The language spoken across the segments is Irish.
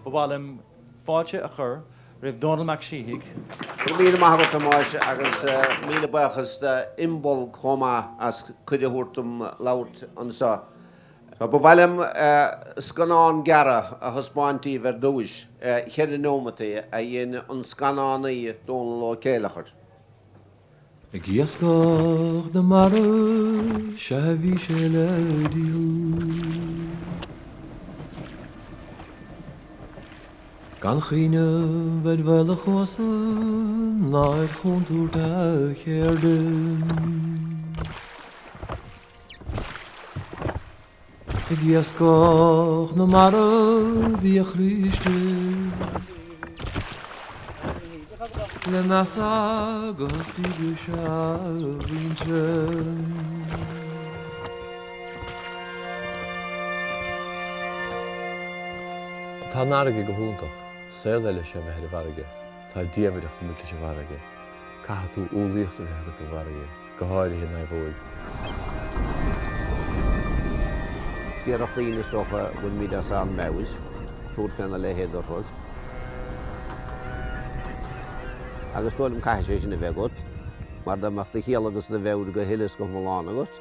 Ba mhaith liom fáilte a chur roimh Domhnall Mac Síthigh. Go raibh míle maith agat a Thomáis agus míle buíochas d'Imbolc chomh maith as cuireadh a thabhairt dom labhairt anseo. Ba mhaith liom scannán gearr a thaispeáint daoibh ar dtúis, cheithre neomataí, a dhein an scannánaí Dónal Ó Céilleachair. Ag iascach na mara sea a bhí sé le dúil. Gan chuimhneamh ar bhaol a chosáin ná ar chontúirt a cheirde. Ag iascach na mara bhí a chríste. Le meas agus díograis a mhuintir. Tá an fharraige go hiontach. Saol eile is ea bheith ar an bhfarraige. Tá diamhaireacht amuigh sa bhfarraige. Caithfidh tú umhlaíocht a bheith agat don bhfarraige. go háirithe i naomhóig. Déarfadh daoine is dócha go bhfuilimid as ár meabhair, tabhairt faoina leithéid de thuras. Agus is dóigh liom caithfidh sé sin a bheith agat, mar dá mbeadh do chiall agus do mheabhair go huile is go hiomlán agat,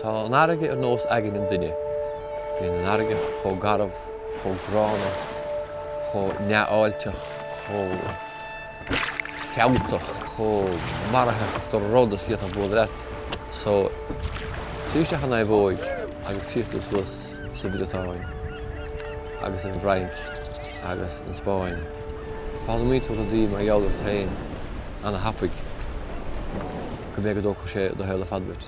Tá an fharraige ar nós aigne an duine. Bíonn an fharraige chomh garbh, chomh gránna, chomh neamhfháilteach, chomh fealltach, chomh maraitheach do rud is a fhéadfadh bualadh leat. So, trí isteach an naomhóig agus tíocht suas sa Bhriotáin agus an bhFrainc agus an Spáinn, foghlaimíonn tú rudaí mar gheall ort féin ana thapaidh go mbeidh go dtógfadh sé do shaol ar fad duit.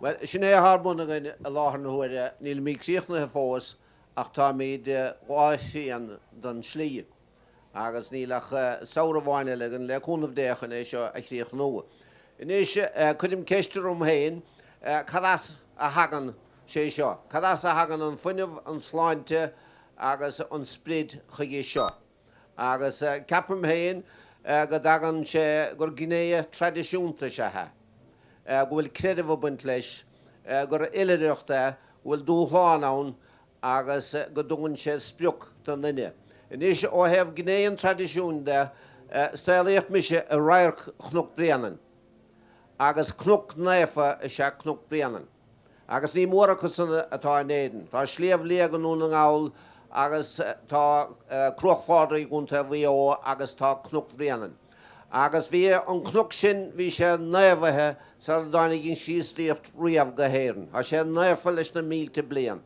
Bhuel, sin é atá ar bun againn i láthair na huaire. Nílimid críochnaithe fós ach táimid dhá thrian den slí agus níl ach samhradh amháin eile againn, le cúnamh Dé, chun é seo a chríochnú. Anois, cuirim ceist orm féin, cad as a thagann sé seo? Cad as a thagann an fuinneamh, an tsláinte agus an sprid chuige seo? agus ceapaim féin go dtagann sé gur gné traidisiúnta is ea é, go bhfuil creideamh ag baint leis, gur oilithreacht é, go bhfuil dúshlán ann agus go dtugann sé sprioc don duine. Anois ó thaobh gné an traidisiúin de, saolaíodh mise i radharc Chnoc Bréanainn agus cnoc naofa is ea Cnoc Bréanainn. Agus ní mórán acu san atá in Éirinn. Tá Sliabh Liag i nDún na nGall agus tá Cruach Phádraig i gContae Mhaigh Eo agus tá Cnoc Bhréanainn. Agus bhí an cnoc sin, bhí sé naofa sara dtáinig an Chríostaíocht riamh go hÉirinn. Tá sé naofa leis na mílte bliain.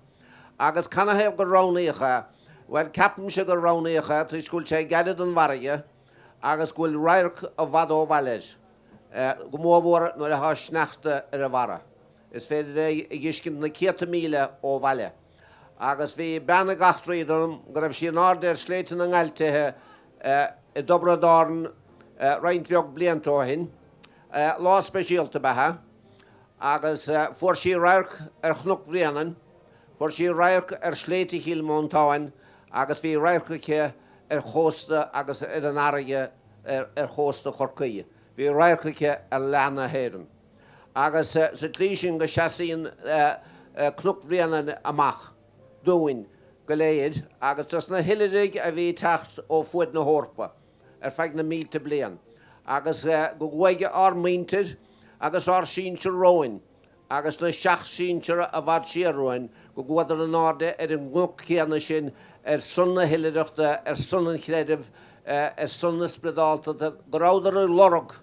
Agus canathaobh gur roghnaíodh é? Bhuel, ceapaimse gur roghnaíodh é toisc go bhfuil sé gairid don bhfarraige agus go bhfuil radharc i bhfad ó bhaile air, go mórmhór nuair atá sneachta ar a bharra. Is féidir é a dh'fheiscint na céadta míle ó bhaile. Agus bhí bean ag eachtraí dom go raibh sí in airde ar Shléibhte na nGaibhlte i dTiobraid Árann roinnt bheag blianta ó shin. Lá speisialta ab ea é. Agus fuair sí radharc ar Chnoc Bhréanainn, fuair sí radharc ar Shléibhte Chill Mhantáin agus bhí radharc aici ar chósta agus ar an bhfarraige ar chósta Chorcaí. Bhí radharc aici ar leath na hÉireann. agus sa tslí sin go seasaíonn Cnoc Bhréanainn amach dúinn go léir agus dos na hoilithrigh a bhí ag teacht ó fuaid na hEorpa ar feadh na mílte bliain agus go gcuaigh ár muintir agus ár sinsir romhainn agus na seacht sinsear i bhfad siar uainn go gcuadar in airde ar an gcnoc céanna sin ar son na hoilithreachta, ar son an chreidimh. ar son na spioradáltachta, go rabhadar ag lorg,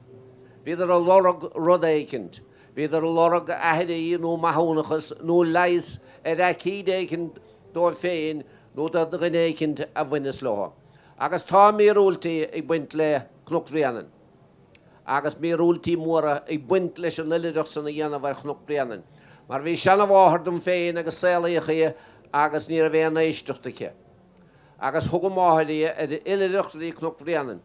bhíodar ag lorg rud éicint, bhíodar ag lorg aithrí nó maithiúnachas nó leigheas ar aicíd éicint dóibh féin nó do dhuine éicint a bhaineas leothu. Agus tá míorúiltí ag baint le Cnoc Bhréanainn agus míorúiltí móra ag baint leis an oilithreacht san a dhéanamh ar Chnoc Bhréanainn mar bhí seanamháthair dom féin agus saolaíodh í agus ní raibh aon éisteacht aici. agus thug a máthair í ar oilithreacht go dtí Cnoc Bhréanainn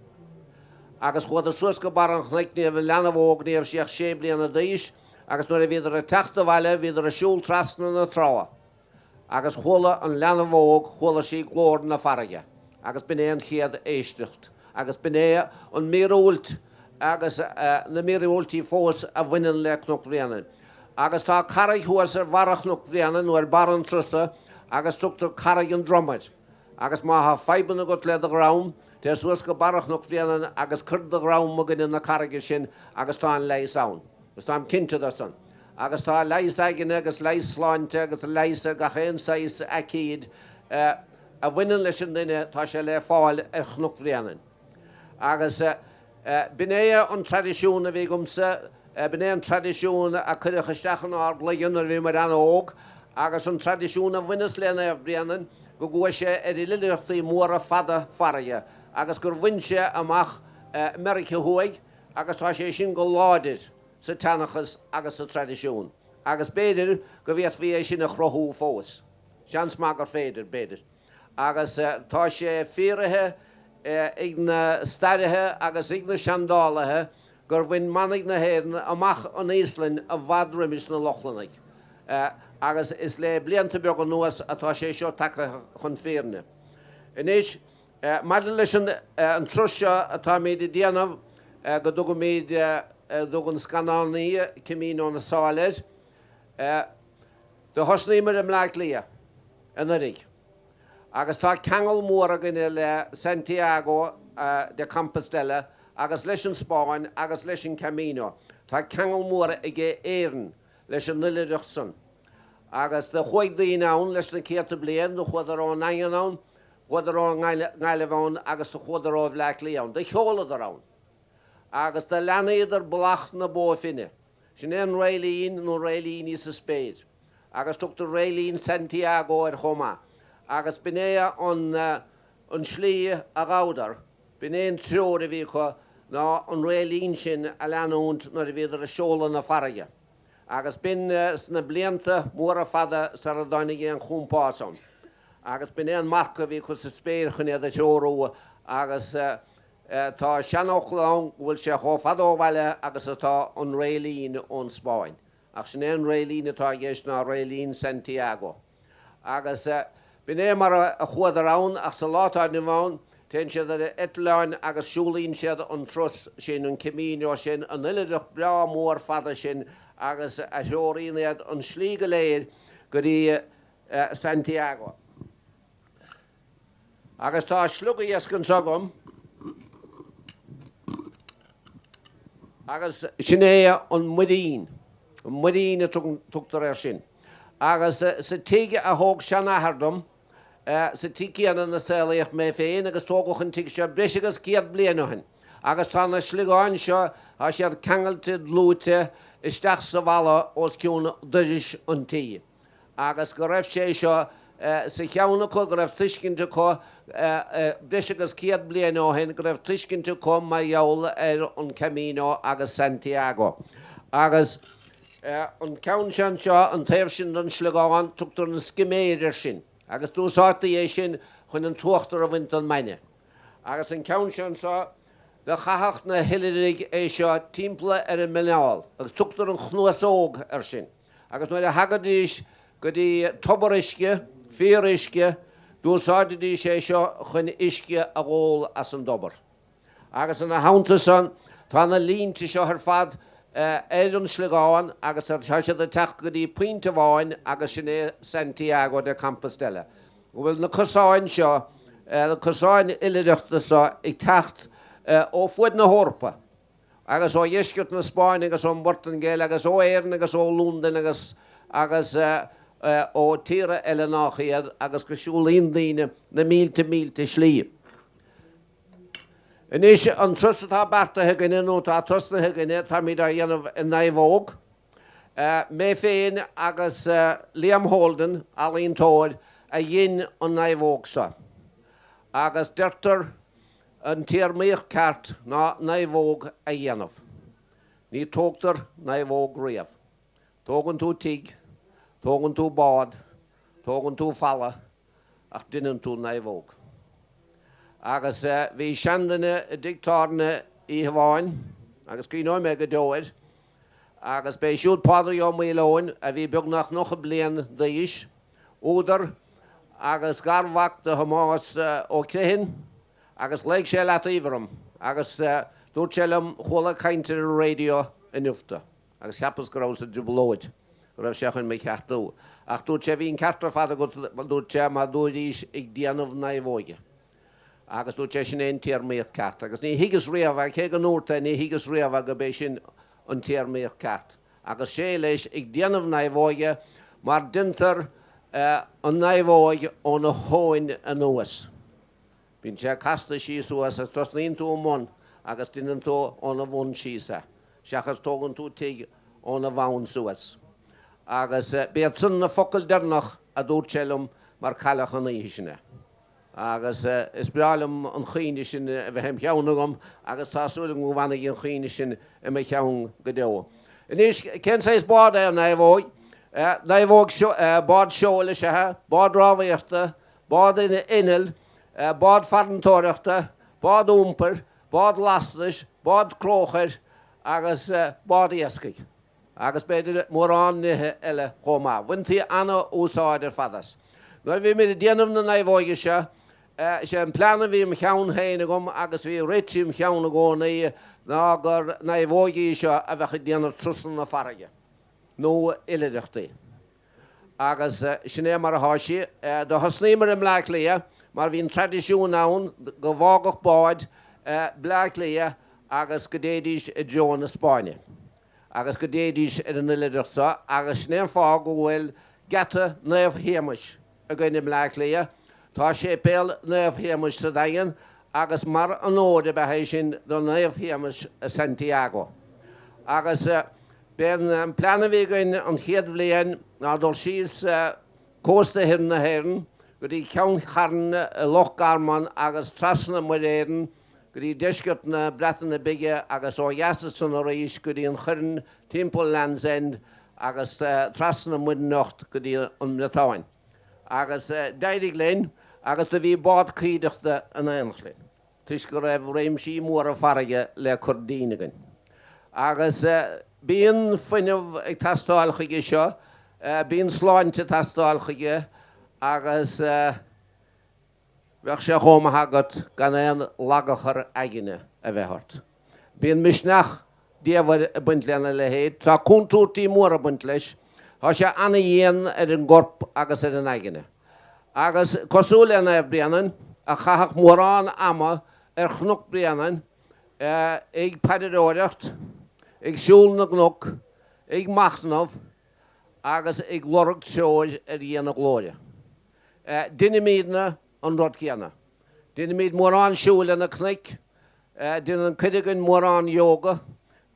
agus chuadar suas go barr an chnoic ní raibh an leanbh óg, ní raibh sí ach sé bliana d'aois agus nuair a bhíodar ag teacht abhaile bhíodar ag siúl trasna na trá agus chuala an leanbh óg, chuala sí glór na farraige agus b'in é an chéad éisteacht agus b'in é an míorúilt agus na míorúiltí fós a bhaineann le Cnoc Bhréanainn. Agus tá carraig thuas ar bharra Chnoc Bhréanainn nó ar barra an turasa agus tugtar Carraig an Droma air. Agus má tá fadhbanna agat le do dhrom, téigh suas go barra Chnoc Bhréanainn agus cuir do dhrom i gcoinne na carraige sin agus tá an leigheas ann. Agus táim cinnte de san. Agus tá leigheas aigne agus leigheas sláinte agus leigheas ar gach aon saghas aicíd a bhaineann leis an duine, tá sé le fáil ar Chnoc Bhréanainn. Agus b'in é an traidisiún a bhí agamsa, b'in é an traidisiún a cuireadh isteach inár gcloigeann nuair a bhíomar an-óg agus an traidisiún a bhaineas le Naomh Bréanainn go gcuaigh sé ar oilithreachtaí móra fada farraige agus gur bhain sé amach Meiriceá Thuaidh agus tá sé sin go láidir sa tseanchas agus sa traidisiún agus b'fhéidir go bhféadfaí é sin a chruthú fós. Seans maith gur féidir, b'fhéidir. Agus tá sé fíoraithe ag na stairithe agus ag na seandálaithe gur bhain manaigh na hÉireann amach an Íoslainn i bhfad roimis na Lochlannaigh. Agus is le blianta beaga anuas atá sé seo tagtha chun fírinne. Anois, maidir leis an turas seo atáimid ag déanamh go dtugaimid a dtug an scannánaí Camino na Sáile air, Do thosnaíomar i mBleá Cliath anuiridh agus tá ceangal mór againne le Santiago de Compostela agus leis an Spáinn agus leis an Camino. Tá ceangal mór ag Éirinn leis an oilithreacht san agus do chuaigh daoine ann leis na céadta bliain. Do chuadar ón nDaingean ann, chuadar ón nGaillimh ann agus do chuadar ó Bhleá Cliath ann. Do sheoladar ann agus do leanaíodar Bealach na Bó Finne. Sin é an réiltín nó réiltíní sa spéir, agus tugtar réiltín Santiago air chomh maith, agus b'in é an tslí a ghabhadar, b'in é an treoir a bhí acu ná an réiltín sin a leanúint nuair a bhíodar ag seoladh na farraige, agus b'in sna blianta móra fada sar a dtáinig aon chompás ann, agus b'in é an marc a bhí acu sa spéir chun iad a threorú agus. Tá seanfhocal ann go bhfuil sé chomh fada ó bhaile agus atá an réiltín ón Spáinn, ach sin é an réiltín atá i gceist ná réiltín Santiago. Agus b'in é mar a chuadar ann, ach sa lá atá inniu ann téann siad ar eitleáin agus siúlaíonn siad an turas sin, an Camino sin, an oilithreacht breá mór fada sin agus a threoraíonn iad an slí go léir go dtí Santiago. Agus tá sliogiasc anso agam. Agus sin é an muirín. An muirín a tugtar air sin. Agus sa tigh a thóg seanathair dom, sa tigh céanna ina saolaíodh mé féin agus tógadh an tigh seo breis agus céad bliain ó shin. Agus tá na sliogáin seo, tá siad ceangailte, dlúite, isteach sa bhalla os cionn doiris an tí. agus go raibh sé seo sa cheann acu, go raibh tuiscint acu breis agus céad bliain ó shin, go raibh tuiscint acu mar gheall ar an Camino agus Santiago. Agus an ceann seo anseo, an taobh sin den sliogán, tugtar an Sciméir air sin, agus d'úsáidtí é sin chun an t-uachtar a bhaint den mbainne. Agus an ceann seo anseo, do chaitheadh na hoilithrigh é seo timpeall ar a muineál, agus tugtar an Chnuasóg air sin. agus nuair a thagaidís go dtí tobar uisce, fíoruisce, d'úsáididís é seo chun uisce a dh'ól as an dtobar. Agus ina theannta san, tá na línte seo ar fad ar an sliogán agus tá siad ag teacht go dtí pointe amháin agus sin é Santiago de Compostela. go bhfuil na cosáin seo, na cosáin oilithreachta seo ag teacht ó fuaid na hEorpa, agus ó dheisceart na Spáinne agus ón bPortaingéil agus ó Éirinn agus ó Londain agus ó tíortha eile nách iad agus go siúlaíonn daoine na mílte mílte slí. Anois an turas atá beartaithe againne nó atá tosnaithe againne táimid á dhéanamh i naomhóg. Mé féin agus Liam Holden, ealaíontóir, a dhein an naomhóg seo agus deirtear, An téarmaíocht ceart ná naomhóg a dhéanamh. Ní tógtar naomhóg riamh. Tógann tú tigh, tógann tú bád, tógann tú falla, ach deineann tú naomhóg. Agus bhí seanduine i dtigh tábhairne oíche amháin, agus cuimhneoidh mé go deo air, Agus b'é siúd Pádraig Ó Maoileoin, a bhí beagnach nócha bliain d'aois, údar agus garmhac do Thomás Ó Criomhthain, agus ghlaoigh sé i leataobh orm agus dúirt sé liom, chuala ag caint ar an raidió inniu tú, agus cheapas go rabhas i dtrioblóid, go raibh sé chun mé a cheartú, ach dúirt sé, bhí an ceart ar fad agat, dúirt sé, mar dúraís ag déanamh naomhóige. Agus dúirt sé sin é an téarmaíocht ceart. Agus ní thuigeas riamh é, cé go ndúrt é, ní thuigeas riamh é gurb é sin an téarmaíocht ceart. Agus sé leis, ag déanamh naomhóige, mar deintear an naomhóg óna thóin anuas. Bíonn sé casta síos suas agus tosnaíonn tú i mbun agus deineann tú óna bhun síos é, seachas tógann tú tigh óna bhun suas. Agus b'iad san na focail deireanach a dúirt sé liom mar cailleadh an oíche sin é. agus is breá liom an chuimhne sin a bheith im' cheann agam agus tá súil agam go bhfanfaidh an chuimhne sin i mo cheann go deo. Anois, cén saghas bád é an naomhóg? Naomhóg, bád seoil is ea í, bád rámhaíochta, bád innill, bád farantóireachta, bád iompair, bád lastais, bád cróchair agus bád iascaigh. agus b'fhéidir mórán nithe eile chomh maith. Bhaintí an-úsáid ar fad as. Nuair a bhíomair ag déanamh na naomhóige seo, is é an plean a bhí im cheann féin agam agus a bhí rite im cheann i gcónaí ná gur naomhóigín í seo a bheadh ag déanamh trusanna farraige nó oilithreachtaí. agus sin é mar atá sí. Do thosnaíomar i mBleá Cliath mar bhí an traidisiún ann go bhfágadh báid Bleá Cliath agus go dtéidís i dtreo na Spáinne agus go dtéidís ar an oilithreacht seo agus sin é an fáth go bhfuil geata Naomh Shéamais againne i mBleá Cliath. Tá séipéal Naomh Shéamuis sa Daingean agus mar onóir a bheadh é sin do Naomh Shéamus i Santiago. Agus b'é an plean a bhí againn an chéad bhliain ná dul síos cósta thoir na hÉireann go dtí Ceann Charn i Loch Garman agus trasna Muir Éireann go dtí deisceart na Breataine Bige agus ó dheas as san arís go dtí an Choirn, timpeall Land's End agus trasna Muir nIocht go dtí an mBriotáin. Agus d'éirigh linn agus do bhí bád cuideachta in éineacht linn toisc go raibh réimsí móra farraige le cur dínn againn. Agus bíonn fuinneamh ag teastáil chuige seo, bíonn sláinte ag teastáil chuige agus. Bheadh sé chomh maith agat gan aon lagachar aigne a bheith ort. Bíonn misneach diamhair ag baint lena leithéid. Tá contúirtí móra ag baint leis. Tá sé ana-dhian ar an gcorp agus ar an aigne. Agus cosúil le Naomh Bréanainn, a chaitheadh mórán ama ar Chnoc Bréanainn ag paidreoireacht, ag siúl na gcnoc, ag machnamh agus ag lorg treoir ar Dhia na Glóire. Deinimidne an rud céanna. Deinimid mórán siúil ar na cnoic. Dein cuid againn mórán yoga.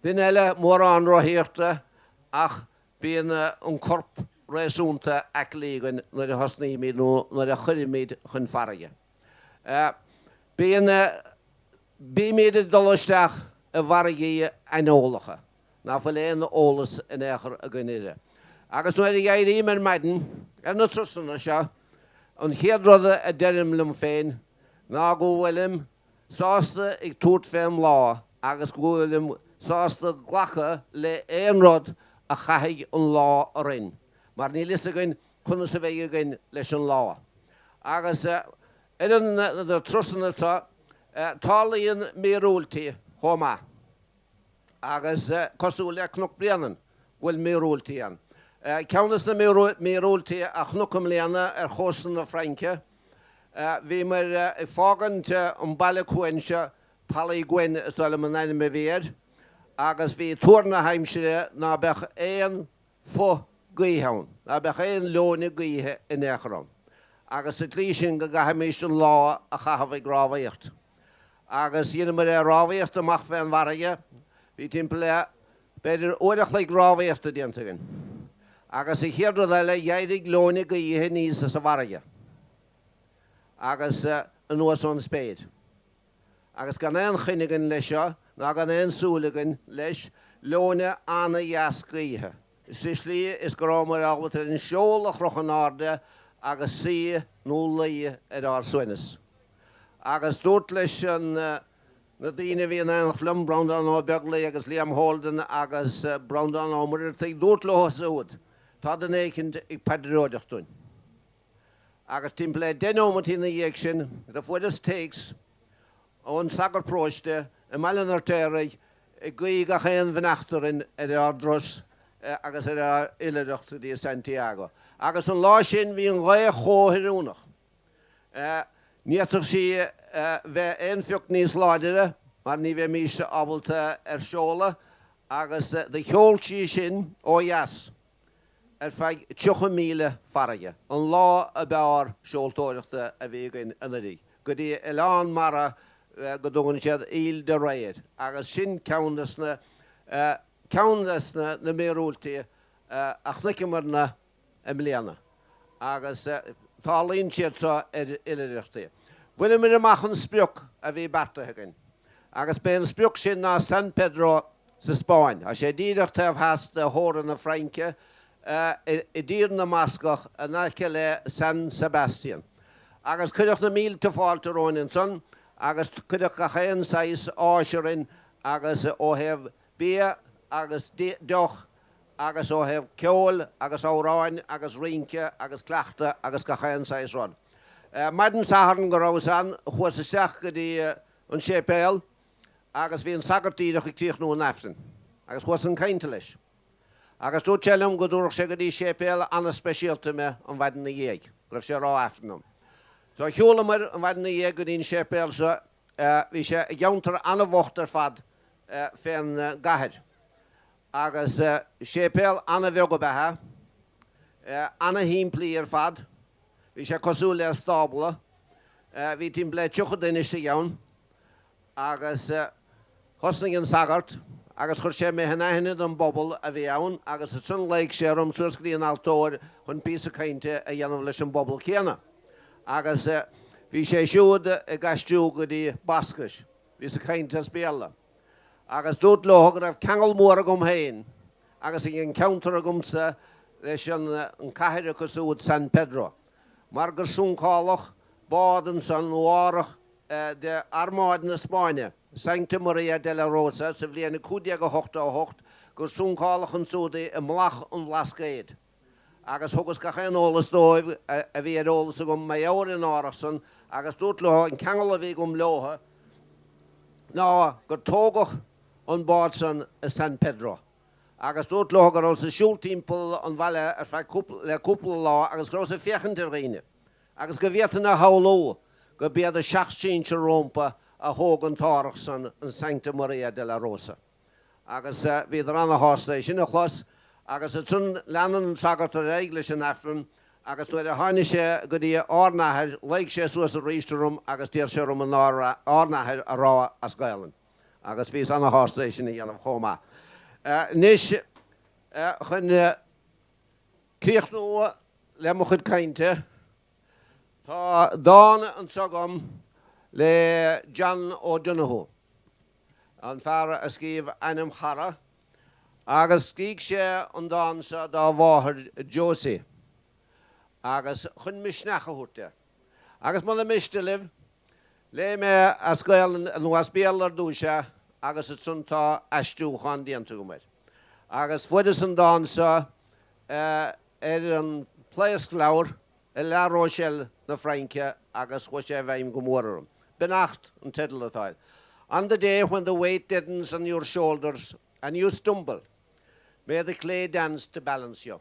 Duine eile mórán rothaíochta. Ach bíonn an corp réasúnta aclaí againn nuair a thosnaímid nó nuair a chuirimid chun farraige. Bíonn, bímid ag dul isteach i bhfarraigí aineolacha. ná fuil aon eolas in aon chor againn uirthi. Agus nuair a éirím ar maidin ar na trusanna seo, an chéad rud a deirim liom féin ná go bhfuilim sásta ag tabhairt fém lá agus go bhfuilim sásta glacadh le aon rud a chaithfidh an lá orainn mar níl fhios againn conas a bheidh againn leis an lá. Agus ar na trusanna, tarlaíonn míorúiltí chomh maith. Agus cosúil le Cnoc Bréanainn, go bhfuil míorúiltí ann. Ceann des na míorúiltí a chonac i mbliana ar chósta na Fraince, bhíomar ag fágaint an baile cuain seo, Pouliguen is dóigh liom an ainm a bhí air, agus bhí tuar na haimsire ná beadh aon phuth gaoithe ann. Ná beadh aon leoithne gaoithe in aon chor ann agus sa tslí sin go gcaithfimíst an lá a chaitheamh ag rámhaíocht. Agus dheineamair é rámhaíocht amach fé an bhfarraige. Bhí timpeall le, b'fhéidir, uair a chloig rámhaíochta déanta againn. Agus an chéad rud eile dh'éirigh leoithne gaoithe aníos as an bhfarraige agus anuas ón spéir. agus gan aon choinne againn leis seo ná gan aon súil againn leis, leoithne an-dheas gaoithe, sa slí is go rabhamair ábalta ar an seol a chrochadh in airde agus suí nó luí ar ár suaimhneas. Agus dúrt leis an na daoine a bhí in aonacht liom, Breandán Ó Beaglaoi agus Liam Holden agus Breandán Ó Muircheartaigh, dúrt leothu súd, tá duine éicint ag paidreoireacht dúinn. agus timpeall le deich nóimeataí ina dhiaidh sin do fuaireas téacs ón sagart paróiste i mBaile an Fheirtéaraigh ag guí gach aon bheannacht orainn ar ár dturas agus ar ár oilithreacht go dtí Santiago agus an lá sin bhí an ghaoth chomh hoiriúnach ní fhéadfadh sí bheith aon phioc níos láidire mar ní bheimís ábalta ar seoladh agus do sheol sí sinn ó dheas. ar feadh 30 míle farraige. An lá ab fhearr seoltóireachta a bhí againn anuiridh, go dtí oileán mara go dtugann siad Île de Ré air, agus sin ceann des na ceann des na na míorúiltí a chonaiceamarna i mbliana. agus tarlaíonn siad seo ar oilithreachtaí. Bhaineamar amach an sprioc a bhí beartaithe againn, agus b'é an sprioc sin ná San Pedro sa Spáinn. Tá sé díreach taobh theas de theorainn na Fraince, i dTír na mBascach, in aice le San Sebastian, agus cuireadh na mílte fáilte romhainn ansan, agus cuireadh gach aon saghas áis orainn agus ó thaobh bia agus deoch agus ó thaobh ceoil agus amhráin agus rince agus cuileachta agus gach aon saghas rud. Maidin Sathairn go rabhas ann chuas isteach go dtí an séipéal agus bhí an sagart díreach ag críochnú an Aifrinn agus chuas chun cainte leis agus dúirt sé liom go dtabharfadh sé go dtí séipéal ana-speisialta mé an mhaidin na dhiaidh go raibh sé ag rá Aifrinn ann. So shiúlamair an mhaidin na dhiaidh go dtí an séipéal so Bhí sé i gceantar an-bhocht ar fad fén gcathair agus séipéal an-bheag ab ea é, an-shimplí ar fad. Bhí sé cosúil le stábla. Bhí timpeall 30 duine istigh ann agus Thosnaigh an sagart agus chuir sé mé in aithne don bpobal a bhí ann agus ansan ghlaoigh sé orm suas go dtí an altóir chun píosa cainte a dhéanamh leis an bpobal céanna agus bhí sé siúd ag aistriú go dtí Bascais. Bhí -sa ag caint as Béarla agus dúrt leo go raibh ceangal mór agam féin agus ag an ceantar agamsa leis an cathair acu siúd San Pedro mar gur suncáladh bád ansan nó árthach de Armáid na Spáinne, Sancta Maria de la Rosa, sa bhliain 1588 gur suncáladh ansúd i mBealach an Bhlascaeid, agus thugas gach aon eolas dóibh a bhí ar eolas agam mar gheall ar an árthach san, agus dúrt leo an ceangal a bhí agam leotha ná gur tógadh an bád san i San Pedro, agus dúrt leo go rabhas ag siúl timpeall an bhaile ar feadh cúpla le cúpla lá agus go rabhas ag féachaint ar dhaoine, agus go bhféadfainn a shamhlú go b'iad a seacht sinsir rómpa a thóg an t-árthach san, an Sancta Maria de la Rosa. Agus bhíodar ana-shásta é sin a chlos, agus ansan lean an sagart ar aghaidh leis an Aifreann, agus nuair a tháini' sé go dtí Ár n-Athair, ghlaoigh sé suas arís orm agus d'iarr sé orm an Ár Ár n-Athair a rádh as Gaelainn, agus bhíos ana-shásta é sin a dhéanamh chomh maith. Anois chun. críochnú le mo chuid cainte. Tá dán anseo agam le John O'Donohue, an fear a scríobh Anam Ċara, agus scrígh sé an dán seo dá mháthair Josie agus chun misneach a thabhairt di. Agus muna miste libh, léifidh mé as Gaolainn nó as Béarla ar dtúis é agus ansan tá aistriúchán déanta agam air. Agus fuaireas an dán seo ar an plaosc-leabhar i La Rochelle na Fraince agus chuaigh sé i bhfeidhm go mór orm. Beannacht an teideal atá air. On the day when the weight deadens on your shoulders and you stumble, may the clay dance to balance you.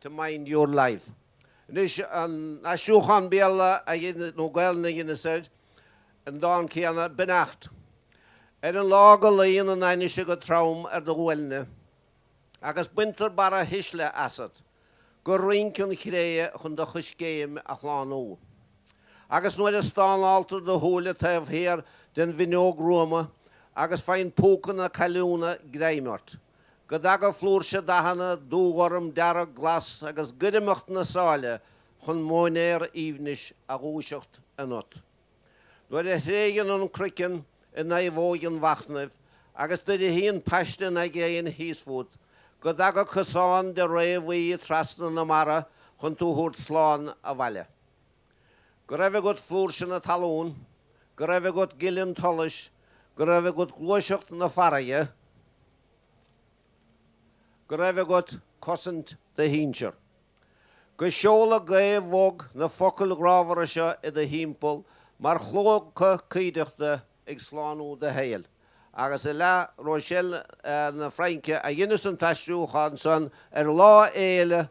to mind your life. Anois an t-aistriúchán Béarla a dhein, nó Gaelainn a dheineas air, an dán céanna, Beannacht ar an lá go luíonn an ainnise go trom ar do ghuailne, agus baintear barrathuisle asat go rinc an chré chun do choiscéim a shlánú. Agus nuair a stánáltar do shúile taobh thiar den bhfinneog ghruama agus faigheann púca na cailliúna greim ort, go dtaga flúirse dathanna, dúghorm, dearg, glas, agus goirmeacht na sáile chun móinéar aoibhnis a dhúiseacht ionat. Nuair a thréigeann an croiceann i naomhóg an mhachnaimh agus dubhaíonn paiste an aigéin thíos fút, go dtaga cosán de ré bhuí trasna na mara chun tú thabhairt slán abhaile. Go raibh agat flúirse na talún, go raibh agat gile an tsolais, go raibh agat gluaiseacht na farraige, go raibh agat cosaint do shinsear. Go seola gaoth bhog na focail ghrámhara seo i do thimpeall mar chlóca cuideachta ag slánú do shaoil. Agus i La Rochelle na Fraince a dheineas an t-aistriúchán san ar Lá Fhéile